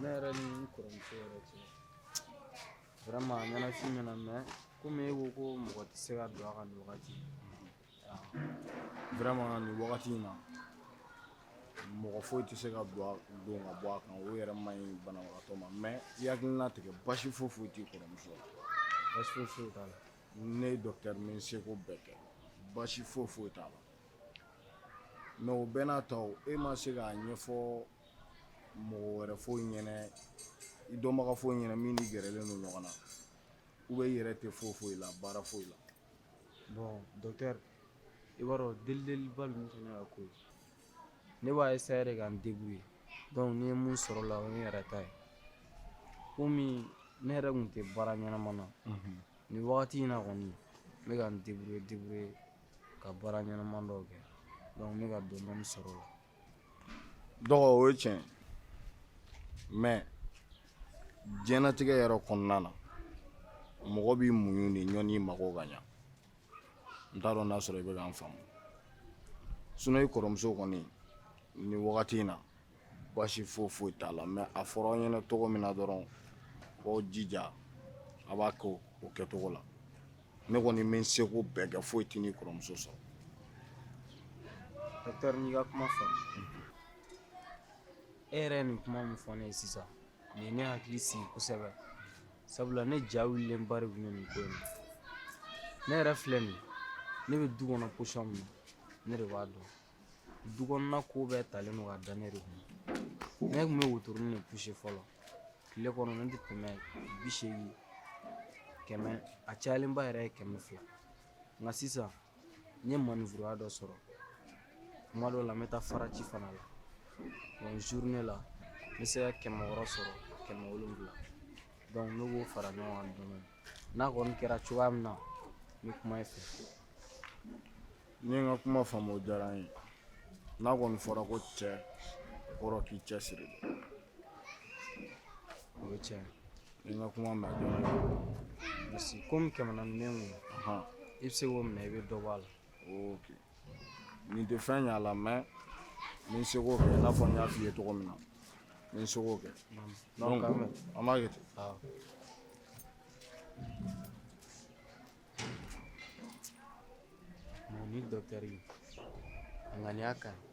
ne yɛrɛ ni n kɔrɔmuso yɛrɛ cɛ vraiment a ɲɛnafin bɛ n na mais komi e ko ko mɔgɔ tɛ se ka don a kan nin wagati vraiment nin wagati in na mɔgɔ foyi tɛ se ka don don ka bɔ a kan o yɛrɛ man ɲi banabagatɔ ma mais i hakili latigɛ basi foyi foyi t'i kɔrɔmuso la basi foyi foyi t'a la ne ye docteur n bɛ n seko bɛɛ kɛ basi foyi foyi t'a la mais o bɛɛ n'a ta o e ma se k'a ɲɛfɔ mɔgɔ wɛrɛ fɔ n ɲɛna i dɔnbaga fɔ n ɲɛna min n'i gɛrɛlen don ɲɔgɔn na ou bien i yɛrɛ tɛ foyi foyi la baara foyi la bon docteur i b'a dɔn delideliba ninnu fana ka ko ye ne b'a essayer de ka n débrouiller donc ni n ye mun sɔrɔ o la o ye n yɛrɛ ta ye komi ne yɛrɛ tun tɛ baara ɲɛnama na nin wagati in na kɔni n bɛ ka n débrouiller débrouiller ka baara ɲɛnama dɔw kɛ donc n bɛ ka dɔni dɔni sɔrɔ o la dɔgɔ o ye tiɲɛ mais diɲɛnatigɛ yɛrɛ kɔnɔna na mɔgɔ b'i muɲu de yanni i mago ka ɲa n t'a dɔn n'a sɔrɔ i bɛ ka n faamu sinon i kɔrɔmuso kɔni ni wagati in na baasi foyi foyi t'a la mais a fɔra aw ɲɛna cogo min na dɔrɔn aw jija a b'a kɛ o kɛcogo la ne kɔni bɛ n seko bɛɛ kɛ foyi tɛna i kɔrɔmuso sɔrɔ n'i ka kuma fɔ e yɛrɛ nin kuma min fɔ ne ye sisan nin ne hakili sigi kosɛbɛ sabula ne ja wulilenba de bɛ nin ko in na ne yɛrɛ filɛ nin ne bɛ du kɔnɔ position min na ne de b'a dɔn du kɔnɔna ko bɛɛ talen don ka da ne de kun ne tun bɛ wotorin de pousser fɔlɔ tile kɔnɔ ne tɛ tɛmɛ bi seegin kɛmɛ a cayalenba yɛrɛ ye kɛmɛ fila nka sisan n ye manifuruya dɔ sɔrɔ kuma dɔw la n bɛ taa faraci fana la donc journée la n bɛ se ka kɛmɛ wɔɔrɔ sɔrɔ kɛmɛ wolonwula donc ne b'o fara ɲɔgɔn kan dɔɔni n'a kɔni kɛra cogoya min na n bɛ kuma i fɛ n'i ye n ka kuma faamu o diyara n ye n'a kɔni fɔra ko cɛ kɔrɔ k'i cɛsiri o ye tiɲɛ i ye n ka kuma mɛn a diyara n ye merci komi kɛmɛ naani bɛ n kun i bɛ se k'o minɛ i bɛ dɔ bɔ a la ok nin tɛ fɛn ɲ'a la mais n bɛ n seko kɛ i n'a fɔ n y'a f'i ye cogo min na n bɛ n seko kɛ donc an b'a kɛ ten. Bon ni docteur a ŋaniya ka ɲi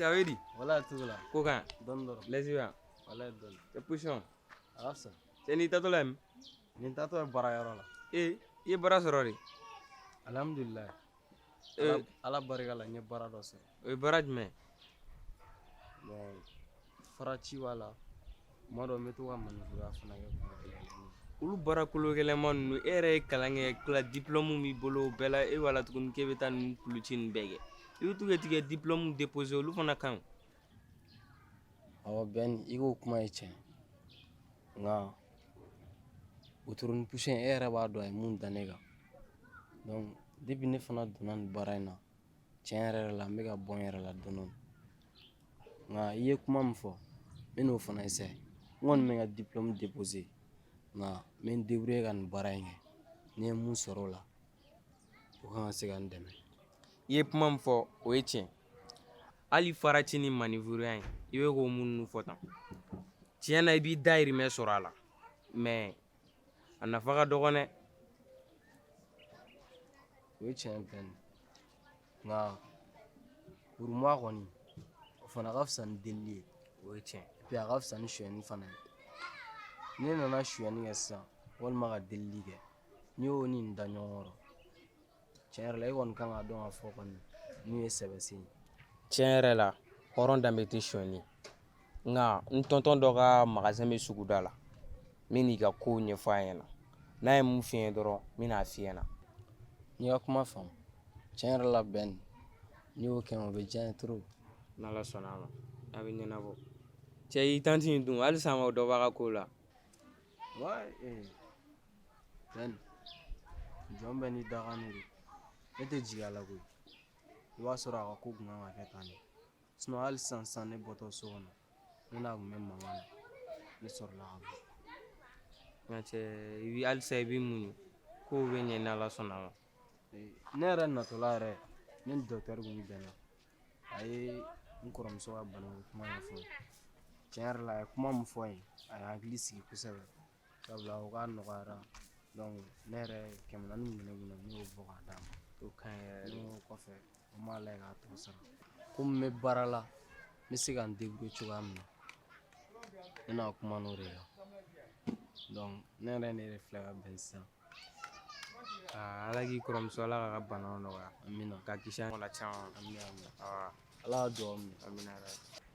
Cɛ a bɛ di. Wala tugula. Ko kan. Dɔn dɔrɔn. Lɛsiwa. Wala dɔn. Cɛ position. A ka fisa. Cɛ n'i taatɔ la yen. Ne taatɔ ye baara yɔrɔ la. Ee i ye baara sɔrɔ de. Alihamudulila. ala barika la n ye baara dɔ sɔrɔ o ye baara jumɛn fara ci b'a la kuma dɔ n bɛ to ka manivuruya fana kɛ kuma dɔ la olu baara kolo gɛlɛnma ninnu e yɛrɛ ye kalan kɛ ka tila diplɔmu b'i bolo o bɛɛ la e b'a la tuguni k'e bɛ taa nin kuluci nin bɛɛ kɛ i bɛ to ka t'i ka diplɔmu depose olu fana kan awɔ bɛn i k'o kuma ye tiɲɛ nka wotoro ni puse e yɛrɛ b'a dɔn a ye mun da ne kan depi ne fana donna nin baara in na tiɲɛ yɛrɛ yɛrɛ la n bɛ ka bɔ n yɛrɛ la dɔɔni nka i ye kuma min fɔ n bɛ n'o fana n kɔni bɛ n ka nka n bɛ n ka nin baara in kɛ ni n ye mun sɔrɔ o la o kan ka se ka n dɛmɛ i ye kuma min fɔ o ye tiɲɛ ye hali faraci ni manivuruya in i bɛ k'o minnu fɔ tan tiɲɛ na i b'i dayirimɛ sɔrɔ a la mɛ a nafa ka dɔgɔn dɛ o ye tiɲɛ ye fɛn nka kuruma kɔni o fana ka fisa ni delili ye o ye tiɲɛ ye a ka fisa ni sonyɛni fana ye ne nana sonyɛni kɛ sisan walima ka delili kɛ n'i y'o ni nin da ɲɔgɔn kɔrɔ tiɲɛ yɛrɛ la e kɔni kan ka dɔn ka fɔ kɔni n'u ye sɛbɛsen ye tiɲɛ yɛrɛ la hɔrɔn danbe tɛ sɔni nka n tɔntɔn dɔ ka magazɛn bɛ suguda la n bɛn'i ka ko ɲɛfɔ a ɲɛna n'a ye mun fɔ n ye dɔrɔn n bɛna a f'i ɲɛ na n y'i ka kuma faamu tiɲɛ yɛrɛ la bɛn n'i y'o kɛ o bɛ diya n ye trop n'ala sɔnna a ma a bɛ ɲɛnabɔ cɛ i tanti in dun halisa a ma dɔ b'a ka ko la wa ee Fɛn jɔn bɛ ni daga ne de ne tɛ jigi a la koyi i b'a sɔrɔ a ka ko kun kan ka kɛ tan de sinɔn hali sisan sisan ne bɔtɔ so kɔnɔ ne n'a kun bɛ mankan na ne sɔrɔla ka bɔ nka cɛ i bi halisa i bɛ muɲu kow bɛ ɲɛ ni ala sɔnna a ma Ee, ne yɛrɛ natɔla yɛrɛ ne ni dɔkitɛri kun bɛnna a ye n kɔrɔmuso ka banako kuma ɲɛfɔ n ye. tiɲɛ yɛrɛ la a ye kuma min fɔ n ye a ye n hakili sigi kosɛbɛ sabula o k'a nɔgɔyara ne yɛrɛ kɛmɛ naani min ne bolo ne y'o bɔ k'a d'a ma o ka ɲi yɛrɛ ne y'o kɔfɛ n b'a lajɛ k'a tɔ sara komi n bɛ baara la n bɛ se ka n débrouiller cogoya min na ne n'a kuman'o de la donc ne yɛrɛ ne yɛrɛ filɛ ka bɔ yen sisan ala k'i kɔrɔmuso ala k'a ka bana nɔgɔya amina k'a kisi a la caman amina ala ka dugawu minɛ amina yɛrɛ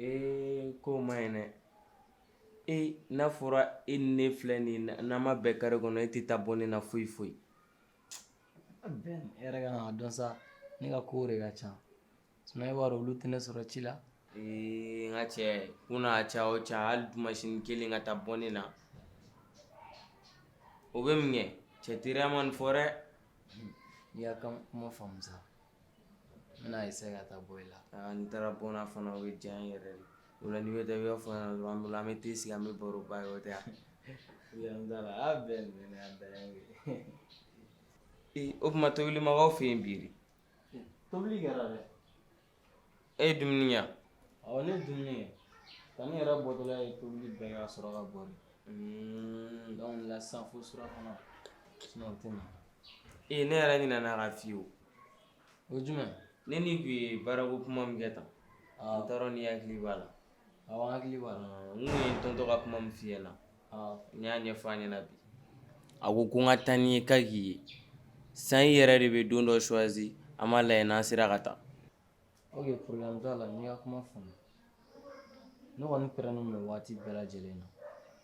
Ee ko man ɲi dɛ ee n'a fɔra e ni ne filɛ nin ye n'an ma bɛn carré kɔnɔ e tɛ taa bɔ ne na foyi foyi Ben e yɛrɛ kan k'a dɔn sa ne ka kow de ka ca sinon e b'a dɔn olu tɛ ne sɔrɔ ci la ee n ka cɛ ko n'a caya o caya hali dimansini kelen ka taa bɔ ne na o bɛ mun kɛ cɛ teriya ma nin fɔ dɛ i y'a ka kuma faamu sa N'a ye se ka taa bɔ i la n taara bɔ fana o ye diya yɛrɛ de o la ni bɛ da yɔrɔ fana bolo an bɛ te sigi an bɛ baro ba ye o tɛ yan da la a bɛn da ee o tuma tobili ma kɛ aw fɛ yen bi tobili kɛra dɛ e ye dumuni yan ɔ ne dumuni ye ka ne yɛrɛ bɔtɔla ye tobili bɛɛ ka sɔrɔ ka bɔ de dɔnku la sisan fo sura kɔnɔ o tɛ na ee ne yɛrɛ ɲinɛna k'a f'i ye o o ye jumɛn ye ne n'i tun ye baarako kuma min kɛ tan n t'a dɔn n'i hakili b'a la awɔ n hakili b'a la n tun ye n tonton ka kuma min f'i ɲɛna n y'a ɲɛfɔ a ɲɛna bi a ko ko n ka taa n'i ye k'a k'i ye sisan i yɛrɛ de bɛ don dɔ choisi an b'a lajɛ n'an sera ka taa ok problème t'a la n y'i ka kuma faamu ne kɔni pɛrɛnnen don waati bɛɛ lajɛlen na